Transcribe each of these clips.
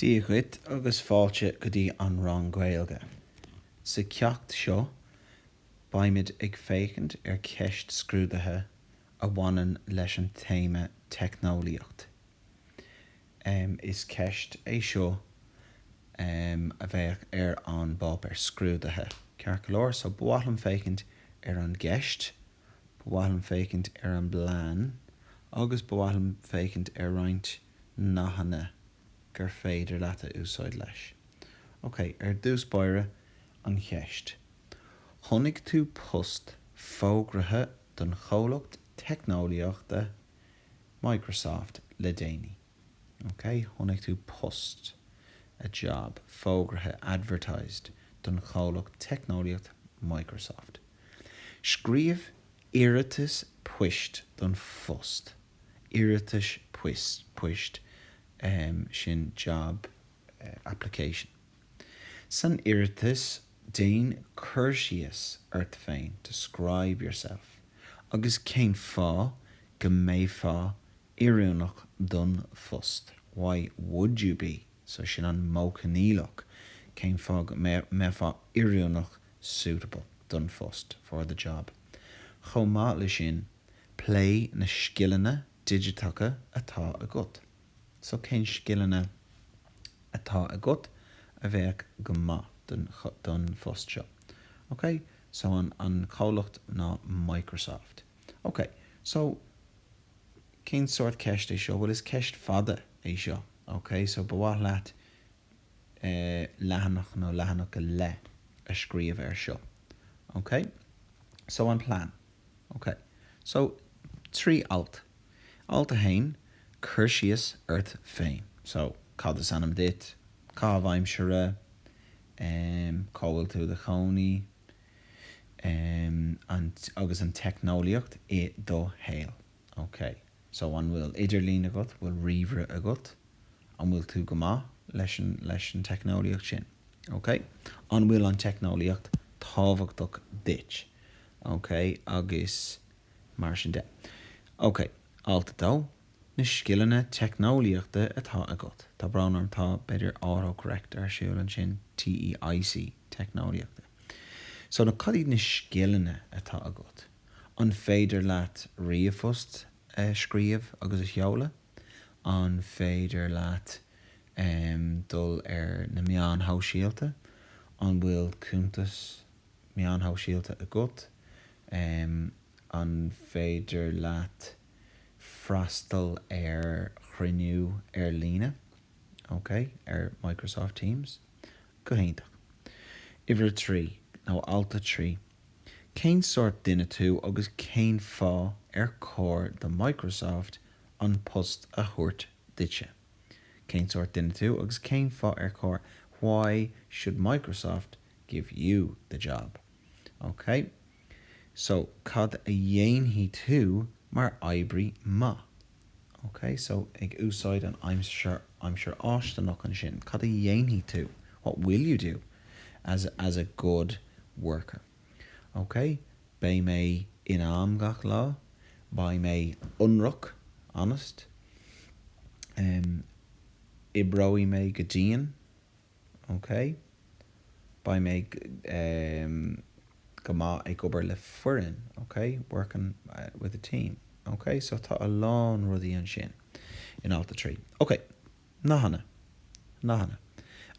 Dia dhuit agus fáilte go dtí an rang Gaeilge. Sa ceacht seo, beimid ag féachaint ar cheist scrúdaithe a bhaineann leis an téama teicneolaíocht. Is ceist é seo a bheadh ar an bpáipéar scrúdaithe, ceart go leor, so ba mhaith liom féachaint ar an gceist. Ba mhaith liom féachaint ar an bplean agus ba mhaith liom féachaint ar roinnt nathanna gur féidir leat a úsáid leis. Ok, ar dtús báire, an cheist. Chonaic tú post fógraithe don chomhlacht teicneolaíochta Microsoft le déanaí. Ok, chonaic tú post, a job, fógraithe, advertised, don chomhlacht teicneolaíochta Microsoft. Scríobh iarratas poist don phost, iarratas poist, sin job application. San iarratas, déan cur síos ort féin, describe yourself, agus cén fáth go mbeifeá oiriúnach don phost, why would you be, so, sin an modh coinníollach, cén fáth go mbeifeá oiriúnach suitable don phost, for the job. Chomh maith leis sin, pléigh na scileanna digiteacha atá agat. So cén scileanna atá agat a bheadh go maith don phost seo? Ok, so an comhlacht ná Microsoft. Ok, so cén sórt ceist é seo? Bhuel, is ceist fada é seo. Ok, so ba mhaith leat leathanach nó leathanach go leith a scríobh air seo. Ok? So an plean. Ok. So, trí alt. Alt a haon, cur síos ort féin. So, cad is ainm duit? Caitheamh aimsire? Em, cá bhfuil tú i do chónaí? Em, an, agus an teicneolaíocht i do shaol. Ok, so an bhfuil idirlíon agat, bhfuil ríomhaire agat? An bhfuil tú go maith leis an, leis an teicneolaíocht sin? Ok, an bhfuil an teicneolaíocht tábhachtach duit? Ok, agus mar sin de. Ok, alt a dó, na scileanna teicneolaíochta atá agat. Tá brón orm, tá, b'fhéidir autocorrect ar siúl ansin, TEIC, teicneolaíochta. So na, cad iad na scileanna atá agat? An féidir leat ríomhphost a scríobh agus a sheoladh? An féidir leat dul ar na meáin shóisialta? An bhfuil cuntas meáin shóisialta agat? An féidir leat freastal ar chruinniú ar líne, OK, ar Microsoft Teams? Go hiontach. Uimhir a trí, nó alt a trí. Cén sórt duine tú agus cén fáth ar chóir do Microsoft an post a thabhairt duitse? Cén sórt duine tú agus cén fáth ar chóir Why should Microsoft give you the job? Ok, so cad a dhéanfaidh tú mar oibrí maith? Ok, so ag úsáid an aimsir fháistineach ansin, cad a dhéanfaidh tú? What will you do as a good worker? Ok, beidh mé in am gach lá, beidh mé ionraic, honest, em, oibreoidh mé go dian, OK. Beidh mé eh go maith ag obair le foireann, OK, working with a team. OK. So tá a lán rudaí ansin in alt a trí. OK. Nathanna. Nathanna.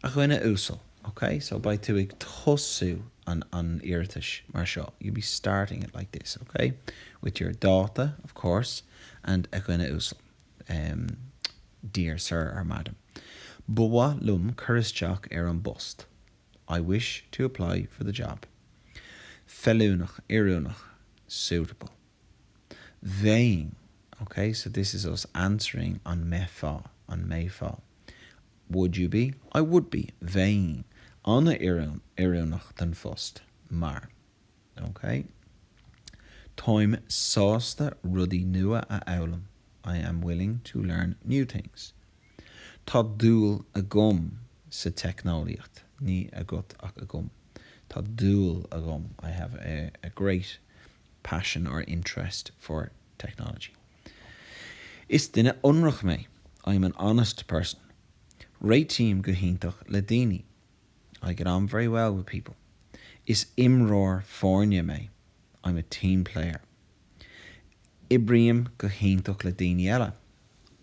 A dhuine uasail. OK. So beidh tú ag tosú an iarratais mar seo, you'll be starting it like this, OK, with your dáta, of course, and a dhuine uasail. em, dear sir or madam, ba mhaith liom cur isteach ar an bpost I wish to apply for the job feiliúnach, oiriúnach suitable bheinn, ok, so this is us answering an mbeifeá, an mbeifeá would you be? I would be bheinn an-oiriúnach don phost mar. OK. Táim sásta rudaí nua a fhoghlaim, I am willing to learn new things. Tá dúil agam sa teicneolaíocht, ní agat ach agam. Tá dúil agam, I have a, a great, passion or interest for technology. Is duine ionraic mé, I am an honest person. Réitím go hiontach le daoine. I get on very well with people. Is imreoir foirne mé. I'm a team player. Oibrím go hiontach le daoine eile.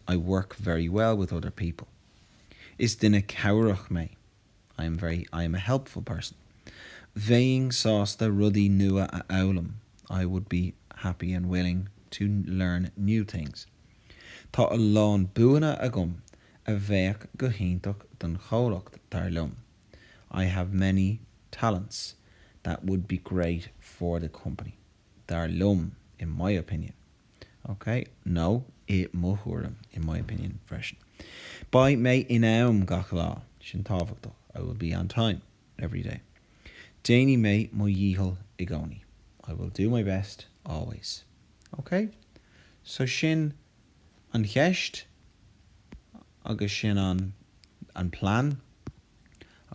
I work very well with other people. Is duine cabhrach mé. I am very, I am a helpful person. Bheinn sásta rudaí nua a fhoghlaim. I would be happy and willing to learn new things. Tá a lán buanna agam a bheadh go hiontach don chomhlacht, dar liom, I have many talents that would be great for the company, dar liom, in my opinion, OK? Nó i mo thuairim, in my opinion, freisin. Beidh mé in am gach lá, sin tábhachtach, I will be on time every day. Déanfaidh mé mo dhícheall i gcónaí, I will do my best always. Ok, so sin an cheist agus sin an plean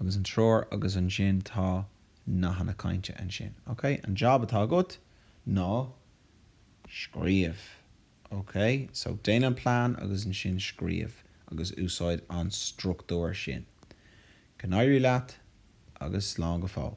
agus an treoir agus ansin tá nathanna cainte ansin. Ok, an jab atá agat ná scríobh. Ok, so déan an plean agus ansin scríobh agus úsáid an struchtúr sin. Go n-éirí leat agus slán go fóill.